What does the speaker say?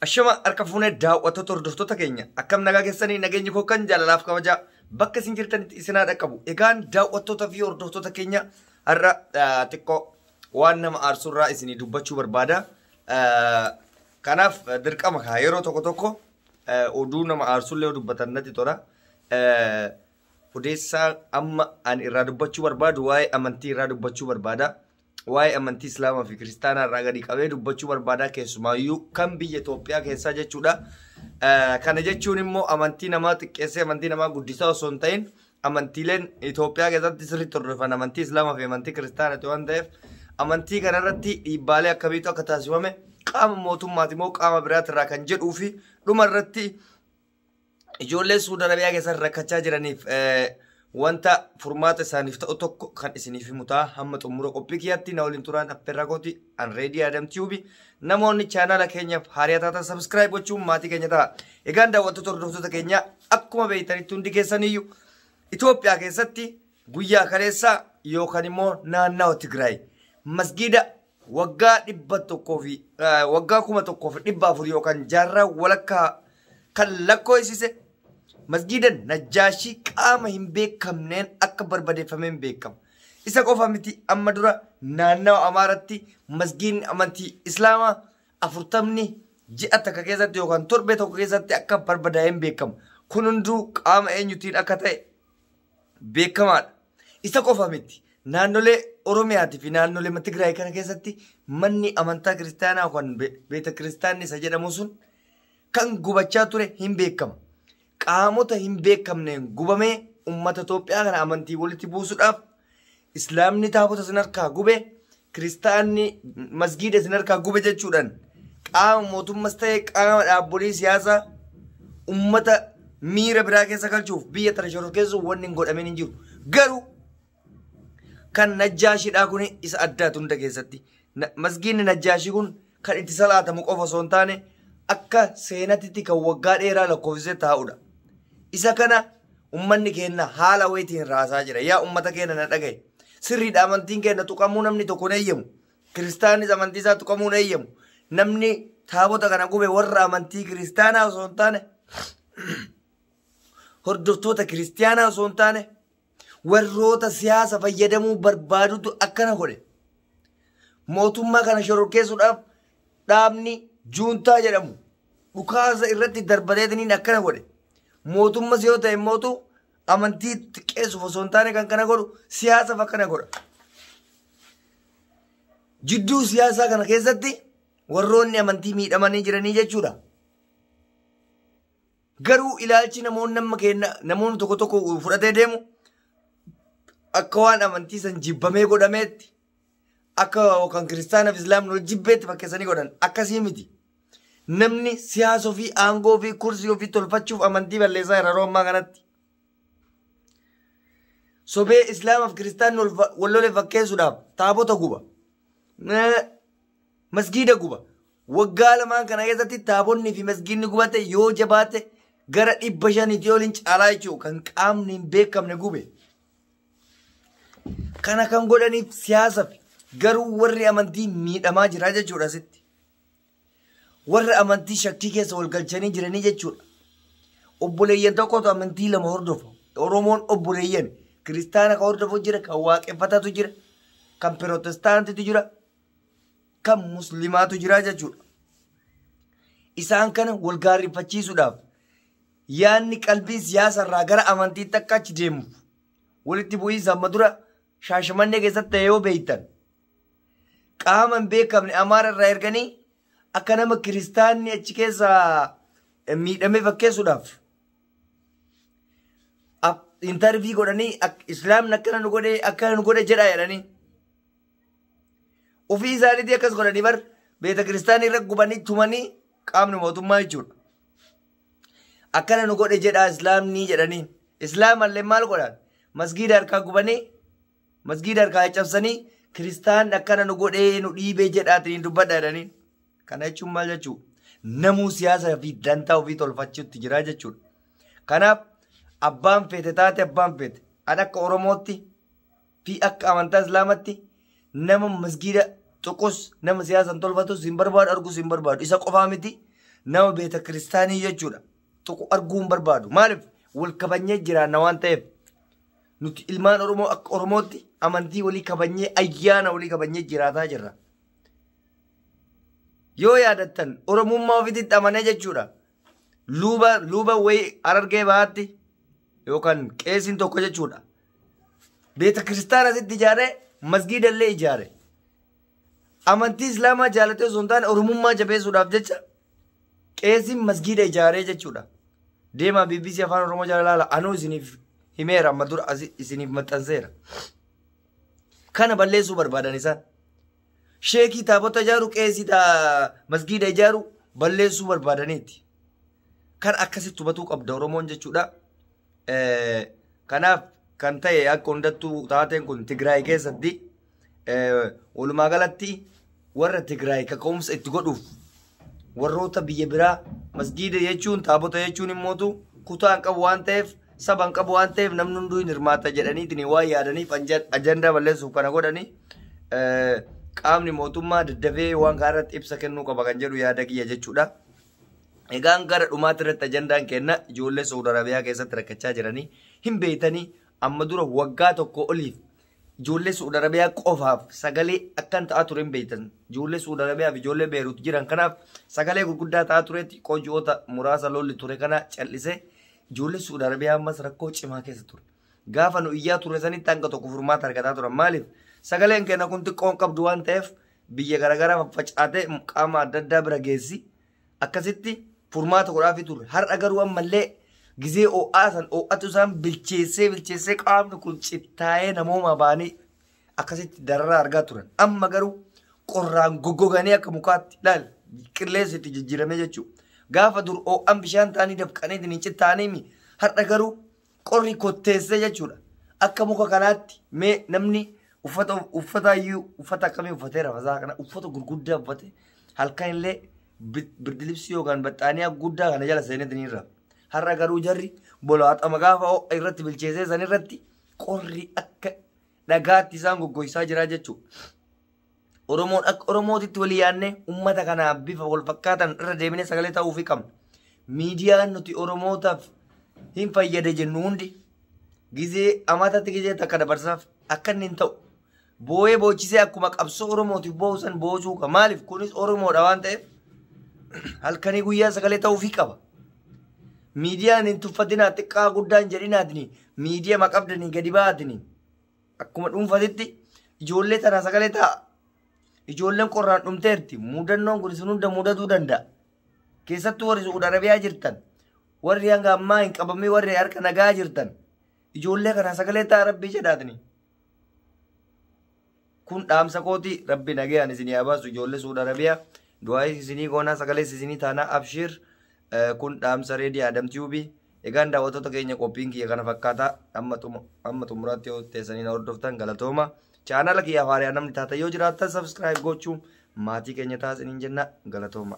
Ashama harka fuunee daawwattoota hordoftoota keenya akkam nagaa keessanii nageenyi koo kan jaalalaaf kabajaa bakka isin jirtanitti isin haa dhaqqabu. Egaan daawwattoota fi hordoftoota keenya har'a ah, xiqqoo waan nama aarsurraa isinii dubbachuu barbaada. Ah, Kanaaf ah, dirqama kaa yeroo tokko tokko ah, oduu nama aarsullee yoo dubbatan natti tola. Ah, Odeessaa amma ani irraa dubbachuu barbaadu waa'ee amantii irraa dubbachuu barbaada. waa'ee amantii Islaamaa fi Kiristaanaa irraa gadi qabee dubbachuu barbaadaa keessumaayyuu kan biyya Itoophiyaa keessaa jechuudha. Kana jechuun immoo amantii namaa xiqqeessee amantii namaa guddisaa osoo hin ta'in amantiileen Itoophiyaa keessatti sirriitti hordofan amantii Islaamaa fi amantii Kiristaanaati waan ta'eef amantii kanarratti dhiibbaalee akkamiitu akka taasifame qaama mootummaati moo qaama biraati irraa kan jedhuu fi dhuma irratti ijoollee Suudi Arabiyaa keessatti rakkachaa jiraniif eh, wanta furmaata isaaniif ta'u tokko kan isiniif himu ta'a hamma xumura qophii kiyyaatti na waliin turaan affeerraa kooti an reedii adam tiubi namoonni chaanaala keenyaaf haariyaa taatan sabiskiraayib gochuun maatii keenya ta'a egaan daawwattoota hordoftoota keenya akkuma beektanitti hundi keessaniyyuu Itoophiyaa keessatti guyyaa kaleessaa yookaan immoo naannawa Tigraay masgiida waggaa dhibba tokkoo fi eh, waggaa kuma tokkoo fi dhibba afur yookaan jaarraa walakkaa kan lakkoofsise masgiida najjaashii qaama hin beekamneen akka barbadeeffameen beekama. Isa qofa miti amma dura naannawa Amaaratti masgiidni amantii Islaamaa afurtamni ji'a takka keessatti yookaan torbee tokko keessatti akka barbadaa'een beekama. Kun hunduu qaama eenyutiin akka ta'e beekamaadha. Isa qofa miti. Naannolee Oromiyaatii fi naannolee Tigraay kana keessatti manni amantaa kiristaanaa kan beeta kiristaanni isa jedhamu sun kan gubachaa ture hin beekama. Qaamota hin beekamneen gubamee uummata Itoophiyaa kana amantii walitti buusuudhaaf Islaamni taabota sin harkaa gube, Kiristaanni masgiida isin harkaa gube jechuudhaan qaama mootummas ta'e qaama dhaabbolii siyaasaa ummata miira biraa keessa galchuuf biyya tana shororkeessuuf wanni hin godhamin hin jiru. Garuu kan najjaashidhaa kun isa addaatu hunda keessatti. Na- Masgiinni najjaashii kun kan itti salaatamu qofa osoo hin taane akka seenatitti kan waggaa dheeraa lakkoofsisee taa'udha. Isa kana ummanni keenya haala wayitiin raasaa jira. Yaa ummata keenya na dhagaye. Sirriidha amantiin keenya tuqamuu namni tokko hin eeyyamu. Kiristaanis amantii isaa tuqamuu hin eeyyamu. Namni taabota kana gube warra amantii kiristaanaa osoo hin taane hordoftoota kiristaanaa osoo hin taane warroota siyaasa fayyadamuu barbaadutu akkana godhe. Mootummaa kana shororkeessuudhaaf dhaabni juuntaa jedhamu dhukaasa irratti darbateetiniin akkana godhe. Mootummas yoo ta'e mootu amantii xiqqeessuuf osoo hin taane kan kana godhu siyaasaaf akkana godha. Jidduu siyaasaa kana keessatti warroonni amantii miidhamanii jiranii jechuudha. Garuu ilaalchi namoonni amma keenna namoonni tokko tokko fudhatee deemu akka waan amantii san jibbamee godhameetti akka kan kiristaana fi islaamni wal jibbeetti fakkeessanii godhan akkasii miti. Namni siyaasa ofii aangoo ofii kursii ofii tolfachuuf amantii balleessaa jira yeroo ammaa kanatti. Sobee islaamaaf kiristaanni wal fa- wal lole fakkeessuudhaaf taabota guba. Eh, Masgiida guba. Waggaa lamaan kana keessatti taabonni fi masgiidni gubate yoo jabaate gara dhibba shaniitii oliin caalaa jechuudha kan qaamni hin beekamne gube. Kana kan godhaniif siyaasa fi garuu warri amantii miidhamaa jira jechuudha asitti. Warra amantii shakkii keessa wal galchanii jiranii jechuudha. Obboleeyyan tokkotu amantii lama hordofa. Oromoon obboleeyyan kiristaana kan hordofu jira, kan waaqeffataatu jira, kan pirotestaantitu jira, kan muslimaatu jira jechuudha. Isaan kana wal gaarrifachiisuudhaaf yaadni qalbiin siyaasa irraa gara amantiitti akka achi deemuuf walitti bu'iinsa amma dura shaashamannee keessatti ta'e yoo beektan qaama hin beekamne amaara irraa erganii akka nama kiristaanni achi keessa miidhamee fakkeessuudhaaf intarvii godhanii islaamni akkana nu godhe akkana nu godhe jedhaa jedhanii Ofii isaaniitii akkas godhanii bar beeta kiristaanii irra gubanii tumanii qaamni mootummaa jechuudha. Akkana nu godhe jedhaa islaamni jedhanii islaamallee maal godhan masgiida harkaa gubanii masgiida harkaa caccabsanii kiristaan akkana nu godhee nu dhiibee jedhaatiin dubbadha jedhanii. Kana jechuun maal jechuu namuu siyaasa fi dantaa ofii tolfachuutti jira jechuudha. Kanaaf abbaan feete taate abbaan feete an akka oromootti fi akka amantaa islaamatti nama masgiida tuqus nama siyaasan tolfatus hin barbaadu argus hin barbaadu isa qofaa miti nama beeta kiristaanii jechuudha tuqu arguu hin barbaadu maaliif wal kabanyee jiraanna waan ta'eef nuti ilmaan oromoo akka oromootti amantii walii kabanyee ayyaana walii kabanyee jiraataa jirra yoo yaadattan oromummaa ofiitti amanee jechuudha luuba luuba wayii harargee bahaatti yookaan qeesiin tokko jechuudha beeta kiristaana asitti ijaare masgiida illee ijaare amantii islaamaa jaalatee osoo hin taane oromummaa jabeessuudhaaf jecha qeesiin masgiida ijaaree jechuudha deemaa bbc afaan oromoo jala laala anuu isiniif himeera amma dura asi- isiniif maxxanseera kana balleessuu barbaadan isaan sheekii taabota ijaaru qeesii taa masgiida ijaaru balleessuu barbaadaniiti kan akkasitti hubatuu qabda oromoon jechuudha Eh, Kanaaf kan ta'e akka hundattuu taateen kun Tigraay keessatti eh, walumaa galatti warra Tigraay kaka'umsa itti godhuuf warroota biyya biraa masgiida jechuun taabota jechuun immootu kutaa hin qabu waan ta'eef saba hin qabu waan ta'eef namni hunduu hin hirmaata jedhaniitiin waan yaadaniif anja- ajandaa balleessuuf kana godhani eh, qaamni mootummaa daddafee waan kana irratti ibsa kennuu qaba kan jedhu yaada kiyya jechuudha. Egaan gara dhumaatti irratti ajandaan kenna ijoollee Saudi Arabiyaa keessatti rakkachaa jiranii hin beeytanii amma dura waggaa tokko oliif ijoollee Saudi Arabiyaa qofaaf sagalee akkan ta'aa ture hin beeytan ijoollee Saudi Arabiyaa fi ijoollee Beerut jiran kanaaf sagalee gurguddaa ta'aa ture xiqqoo ji'oota muraasa lolli ture kana cal'ise ijoollee Saudi Arabiyaa ammas rakkoo cimaa keessa ture. Gaafa nu iyyaa turre sanitti hanga tokko furmaata argataa turan. Maaliif? Sagaleen keenya kun xiqqoon qabdu waan ta'eef biyya garaagaraa faffacaatee qaama adda addaa bira geessi. Akkasitti furmaata godhaafii turre. Har'a garuu ammallee gizee oo'aa san oo'atu isaan bilcheessee bilcheessee qaamni kun cittaa'ee namoomaa baanii akkasitti dararaa argaa turan. Amma garuu qorraan goggoganii akka mukaatti laal qilleensi itti jijjiiramee jechuudha. Gaafa dur oo'an bishaan ta'anii dafqanii ittiin cittaa'anii har'a garuu Qorri kotteessee jechuudha. Akka muka kanaatti mee namni uffata uffata iyyuu uffata akkamii uffatee rafasaa kana uffata gurguddaa uffate halkan illee birdilibsii yookaan baxxaaniyaa guddaa kana jala seenetti ni irra. Har'a garuu jarri bolaaxama gaafa ho'a irratti bilcheessee san irratti qorri akka dhagaatti isaan goggoysaa jira jechuudha. Oromoon akka Oromootitti walii yaadne uummata kanaa bifa wal fakkaatan irra deebinee sagalee ta'uufi qabna. Miidiyaan nuti Oromootaaf hin fayyada jennu hundi gizee amaatatti gizee takka dabarsaaf akka inni hin ta'u. Boo'ee boochisee akkuma qabsoo Oromootiif boo'u san boocuu qaba. Maaliif kunis Oromoodha waan ta'eef halkanii guyyaa sagalee ta'uufi qaba. Miidiyaan hin tuffatinaa xiqqaa guddaan jedhinaatini miidiyama qabdanii gadi ba'aatini. Akkuma dhuunfatitti ijoollee tanaa sagalee ta'a. Ijoolleen qorraan dhumteerti. Muudannoon kun isin hunda muudatuu danda'a. Keessattuu warri Su'uud Arabiyaa jirtan, warri hanga ammaa hin qabamee warri harka nagaa jirtan, ijoollee kanaa sagalee ta'a rabbii jedhaatni. Kun dhaamsa kooti rabbi nagayaan isinii haa baasu ijoollee Su'uud Arabiyaa. Du'aayis isinii goonaa sagalees isinii taanaa abshiir. Kun dhaamsa reedii Adam Tiyuubii. Egaan daawwattoota keenya qophiin kiyya kana fakkaata amma xum- amma xumuraatti yoo teessanii na hordoftan galatooma. Chaanaala kiyyaaf haariyaa namni taatan yoo jiraattan sabiskiraayib gochuun maatii keenya taasisaniin jenna galatooma.